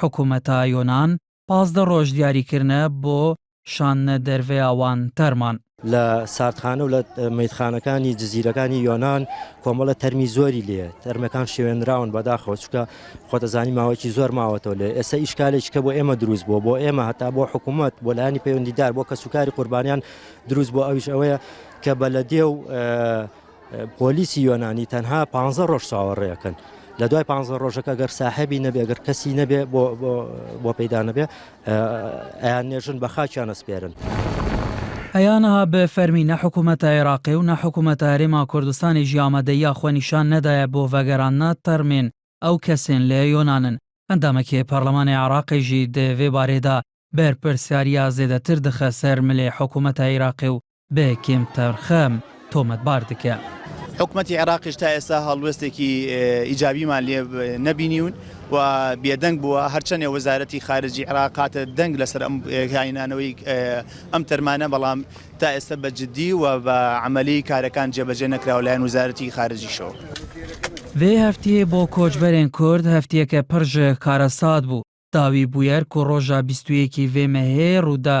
حکومەتا یۆنان پازدە رۆژ دیاری کرنە بۆ شاندنە دەرڤەیا وان تەرمان. لە ساردخانە و لە مەیتخانەکانی جزیرەکانی یۆنان کۆمەڵە تەرمی زۆری لێیە تەرمەکان شێوێنراون بەداخەوە چکە خۆتەزانی ماوەیەکی زۆر ماوەتەوە لێ ئێستا ئیشکالێکی کە بۆ ئێمە دروست بووە بۆ ئێمە هەتا بۆ حکوومەت بۆ لایانی پەیوەندیدار بۆ کەسوکاری قوربانیان دروست بۆ ئەویش ئەوەیە کە بەلەدێ و پۆلیسی یۆنانی تەنها پانزە ڕۆژ چاوەڕێکەن لە دوای پانزە ڕۆژەکە گەر ساحبی نەبێ گەر کەسی نەبێ بۆ پەیدا نەبێ ئەیان نێژن بە خاچیان ئەسپێرن. ئەیانها بە فەرمی نە حکوومەتە عێراقی و نە حکوومەتە هەرێما کوردستانیش ئامادەییا خوە نیشان نەدایە بۆ ڤەگەراندنە تەرمێن ئەو کەسێن لە یۆنانن. ئەندامەکێ پەڕلەمانێ عێراقی ژی دە ڤێ بارێدا بەرپرسیاریا زێدەتر دخە سەر ملێ حکوومەتە عێراقی و بە کێم تەرخەم تۆمەتبار دکە. حکومەتی عێراقیش تا ئێستا هەڵوێستێکی ئیجابیمان لێ نەبینیون و بێدەنگ بووە، هەرچەندە وەزارەتی خارجی عێراق هاتە دەنگ لەسەر ئەم هاینانەوەی ئەم تەرمانە، بەڵام تا ئێستا بە جددی و بە عەمەلی کارەکان جێبەجێ نەکراوە لەلایەن وەزارەتی خارجیشەوە. ڤی هەفتیە بۆ کۆچبەرێن کورد هەفتیەکە پڕ ژە کارەسات بوو، داوی بویەر کو ڕۆژا بیست و یەکی ڤی مەهێ ڕوودا